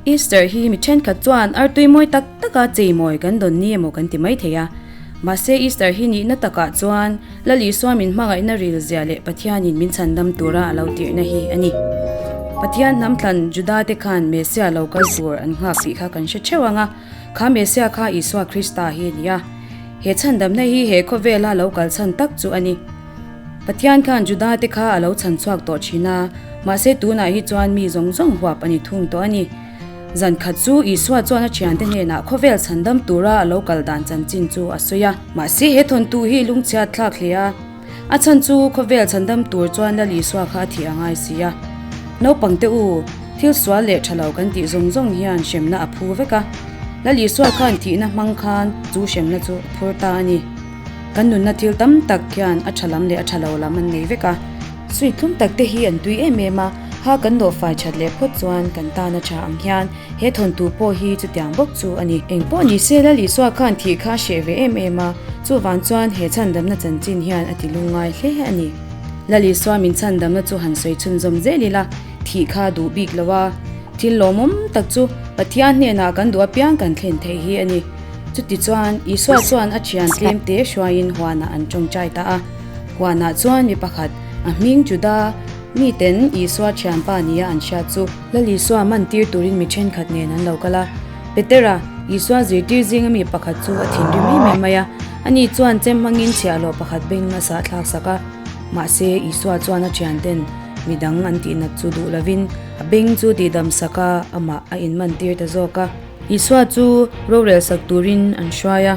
Easter hi mi thenkhat chuan artui mawi tak taka cheimawi kan dawn ni emaw kan ti mai thei a. Mahse Easter hi nihna takah chuan Lal Isua min hmangaihna ril zia leh Pathianin min chhandam tura a lo tirhna hi a ni. Pathian hnamthlan Judate khan Messia lo kal tur an nghak tih kha kan hre theuh ang a. Kha Messia kha Isua Krista hi a ni a. He chhandamna hi he khawvela lo kal chhan tak chu a ni. Pathian khan Juda te kha a lo chhan chhuak tawh thin a, mahse tunah hi chuan mi zawng zawng huap a ni thung tawh a ni. Zan khat chu Isua chuan a thiante hnenah khawvel chhandam tura a lo kal dan chanchin chu a sawi a. Mahse he thawntu hi lungchhiat thlak hle a. A chhan chu khawvel chhan dam tur chuan la Lisua kha a thih ang ai si a. Naupang te u, thil sual leh tha lo kan tih zawng zawng hian hremna a phu vek a. La Lisua khan thihna hmang khan chu hremna chu a phur ta a ni. Kan nunna thil tam tak hian a tha lam leh a tha lo lam an nei vek a. Sui thlum tak te hi an tui em em a, ha kan nawhfai that leh phawt chuan kan tana tha ang hian. He thawntu pawh hi chutiang bawk chu a ni. Eng pawh ni se la Lisuah khan thih kha a hreh ve em em a, chuvang chuan he chhandamna chanchin hian a ti lungngai hle a ni. La Lisuah min chhandamna chu han sawi chhunzawm zel ila, thih kha duh bik lo a, thil lawmawm tak chu Pathian hnenah kan duh apiang kan thlen theih hi a ni. Chutichuan Isuah chuan a thian tlemte hruaiin huanah an tawngtai ta a. Huanah chuan mi pakhat, a hming Judah, miten Isuah thianpa nia an hriat chu. Lal Isua man tir turin mi ṭhenkhat nen an lo kal a. Petera, Isua zirtir zinga mi pakhat chu a thinrim em em mai a, ani chuan chem hmangin chhiah lawh pakhat bengin a sahthlak sak a. Mahse, Isua chuan a ṭhianten mi dang an tihnat chu duh lovin a beng chu tihdam saka amah a inman tir ta zawk a. Isua chu rorel sak turin an hruai a.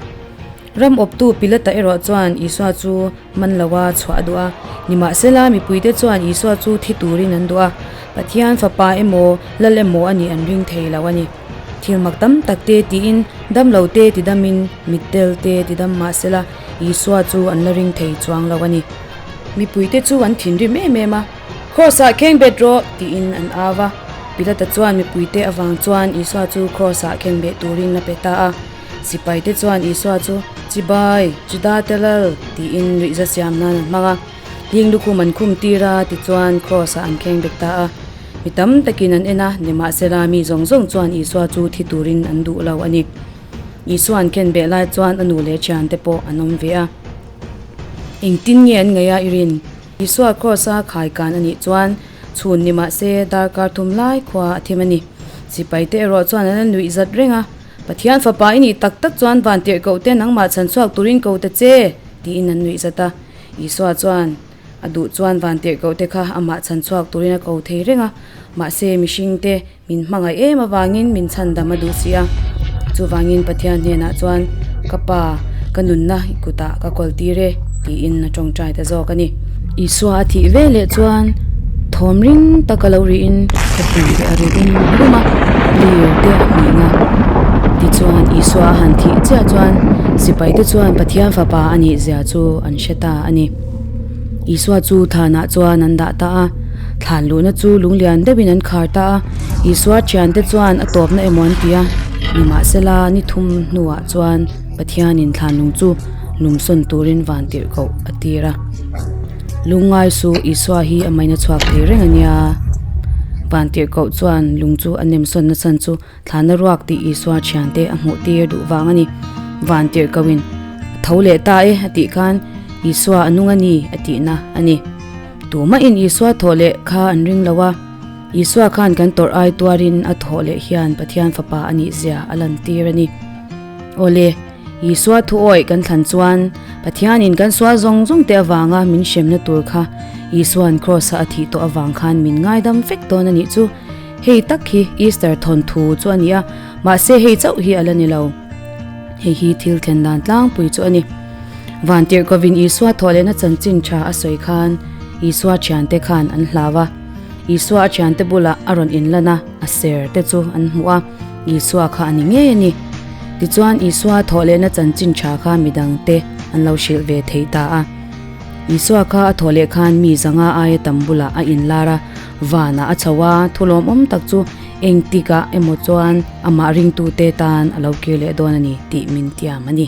Ram awptu Pilata erawh chuan Isua chu man lo a chhuah duh a, nimahsela, mipuite chuan Isua chu thi turin an duh a, Pathian Fapa emaw, Lal emaw a nih an ring thei lo a ni. Thil mak tam tak te tiin, damlo te tidamin, mit tel te tidam mahsela, Isua chu an la ring thei chuang lo a ni. Mipuite chu an thinrim em em a, Cross-ah khengbet rawh! tiin an au a. Pilata chuan mipuite avang chuan Isua chu Cross-ah khengbeh turin a pe ta a. Sipai te chuan Isua chu, Chibai, Juda te lal! tiin ruihza siam nan an hmang a. Hling lukhum an khum tir a, tichuan Kraws-ah an kheng bek ta a. Mi tam takin an en a, nimahsela, mi zawng zawng chuan Isua chu thi turin an duh lo a ni. Isua an khen beh lai chuan a nu leh thiante pawh an awm ve a. Engtin nge an ngaih a i rin? Isua Kraws-a khai kan a nih chuan chhun nimahse darkar thum lai khua a thim a ni. Sipai te erawh chuan an en ruih zat reng a, Pathian Fapa i nih tak tak chuan van tirh koh te nangmah chhan chhuak turin ko ta che tiin an nuih zat a. Isua chuan, A duh chuan van tirh koh te kha amah chhan chhuak turin a ko thei reng a, mahse mihring te min hmangaih em avangin min chhan dam a duh si a. Chuvangin Pathian hnenah chuan, Ka Pa, ka nunna i kutah ka kawltir e tiin a tawngtai ta zawk a ni. Isua a thih ve leh chuan thawm ring taka lo ri in khawpui leh a ru rum rum a lir te a hnin a tichuan Isua a han thih chiah chuan sipai te chuan Pathian fapa a nih zia chu an hre ta a ni Isua chu than ah chuan an dah ta a thlan luh na chu lung lian deuh in an khar ta a Isua thian te chuan a tawp na emaw an ti a ni mah se la ni thum hnu ah chuan Pathianin thlanung chu lum sawn turin van tirh koh a tir a, lungngai su Isua hi a maina chhuak thei reng a nia. Van tirh koh chuan lung chu a nem sawn nachhan chu thlana ruak tih Isua thian te a hmuh tir duh vang a ni. Van tirh koh in, Tho leh ta e a tih khan Isua a nung a ni a tihna a ni. Tumah in Isua thawh leh kha an ring lo a, Isua khan kan tawrh ai tuarin a thawh leh hian Pathian Fapa a nihzia a lan tir a ni. Awle, Isua thu awih kan thlan chuan Pathianin kan sual zawng zawngte avanga min hremna tur kha Isua'n Kraws-a a thih tawh avang khan min ngaidam vek dawn a nih chu. Hei tak hi Easter thawnthu chu a ni a, mahse hei chauh hi a la ni lo. Hei hi thil thlen dan tlangpui chu a ni. Van tirhkovin Isua thawh lehna chanchin tha a sawi khan Isua thiante khan an hlau a. Isua a thiante bulah a rawn inlana a ser te chu an hmu a. Isua kha a ni ngei a ni. Tichuan, Isua thawhlehna chanchin tha kha mi dangte an lo hrilh ve thei ta a. Isua kha a thawhleh khan mi zanga aia tam bulah a inlar a, vanah a chho a, thulawmawm tak chu engtikah emaw chuan amah ringtute tan a lo kir leh dawn a ni tih min tiam a ni.